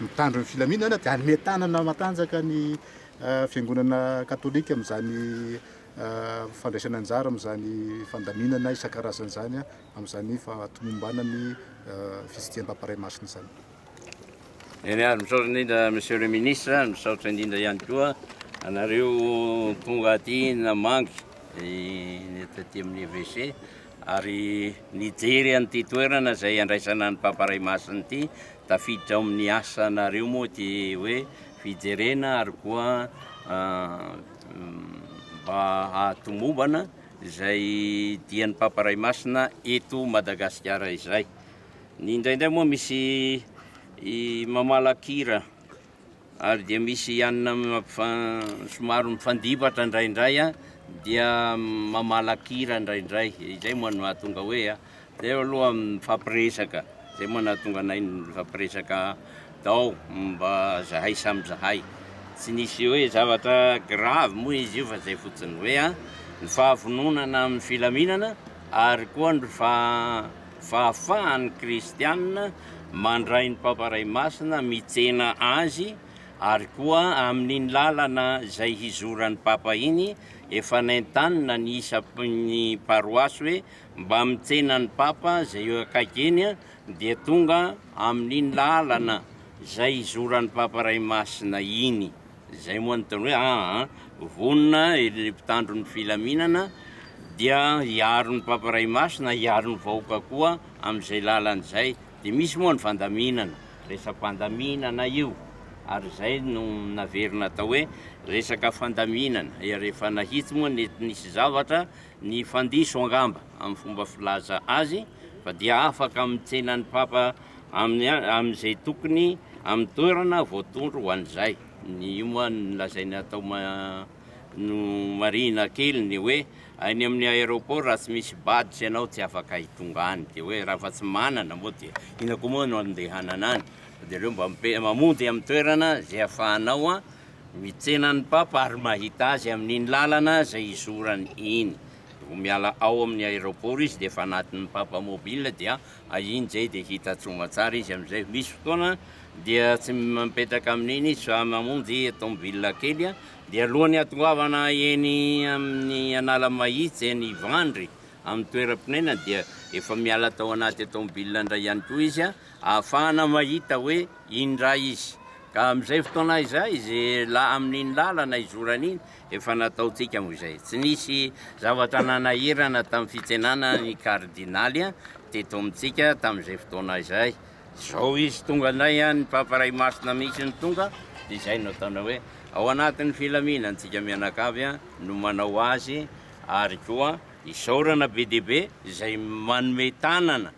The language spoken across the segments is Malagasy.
Mitandro ny filaminana dia hanome tanana matanjaka ny Fiangonana Katolika amin'izany fandraisany anjara amin'izany fandaminana isan-karazany izany amin'izany fahatomomban ny Fitsidiham-pamparay masina izany. Eny ary, misaotra indrindra Monsieur le Ministre, misaotra indrindra ihany koa anareo tonga aty namangy ny taty amin'ny Evêché. Ary nijery an'ity toerana izay handraisana an'i Papa Ray Masina ity, tafiditra ao amin'ny asanareo moa ity hoe fijerena ary koa mba hahatomombana izay dian'i Papa Ray Masina eto Madagasikara izay. Ny indraindray moa misy mamalakira ary dia misy ianona somary mifandibatra indraindray an, dia mamalakira indraindray, izay moa no hahatonga hoe an, zay aloha mifampiresaka, zay moa no hahatonga anay mifampiresaka dao mba zahay samy zahay, tsy nisy hoe zavatra grave moa izy io fa zay fotsiny hoe an, ny fahavononana amin'ny filaminana ary koa ny fa fahafahan'ny kristiana mandray ny Papa Ray Masina, mitsena azy, ary koa amin'iny lalana izay hizoran'ny Papa iny, efa nentanina ny isakin'ny paroasy hoe mba mitsena ny Papa izay eo akaiky eny dia tonga amin'iny lalana izay hizoran'ny Papa Ray Masina iny. Izay moa no ataony hoe aa, vonona ireo mpitandro ny filaminana dia hiaro ny Papa Ray Masina, hiaro ny vahoaka koa amin'izay lalany izay. Dia misy moa ny fandaminana, resa-pandaminana io, ary izay no naverina atao hoe resaka fandaminana, ary efa nahitsy moa nety nisy zavatra nifandiso angamba amin'ny fomba filaza azy, fa dia afaka mitsena ny Papa amin'izay tokony amin'ny toerana voatondro ho an'izay. Ny io moa no lazainy atao nomarihina kely ny hoe any amin'ny aéroport raha tsy misy badge ianao tsy afaka hitonga any dia hoe raha fa tsy manana moa dia inona koa moa no andehanana any fa dia aleo mba mamonjy amin'ny toerana izay ahafahanao mitsena ny papa ary mahita azy amin'iny lalana izay hizorany iny. Vao miala ao amin'ny aéroport izy dia efa anatin'ny papa mobile dia ah iny zay dia hita soamatsara izy amizay, misy fotoana dia tsy mipetraka amin'iny izy fa mamonjy tomobile kely ah dia alohan'ny hatongoavana eny amin'ny Analamahitsy eny Ivandry amin'ny toeram-ponenany dia efa miala tao anaty tomobile indray ihany koa izy ah ahafahana mahita hoe iny indray izy ka amizay fotoana izay izy la amin'iny lalana izorany iny Efa nataontsika moa izay. Tsy nisy zavatra nanahirana tamin'ny fitsenana ny kardinaly teto amintsika tamin'izay fotoana izay. Izao izy tonga indray, ny Papa Ray Masina mihitsy no tonga, dia izay no ataonao hoe ao anatin'ny filaminana antsika mianakavy no manao azy, ary koa isaorana be dia be izay manome tanana.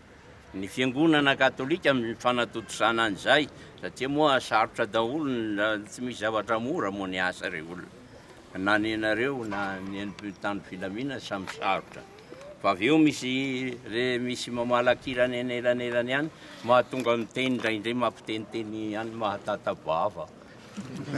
ny fiangonana katolika amin'ny fanatontosana an'izay satria moa sarotra daholo ny tsy misy zavatra mora moa ny asa re olona na ny anareo na ny an'mpitan'ny filaminana samy sarotra fa avy eo misy re misy mamalakirana eny elanelany ihany mahatonga miteny indraindray mampiteniteny ihany mahatata-bava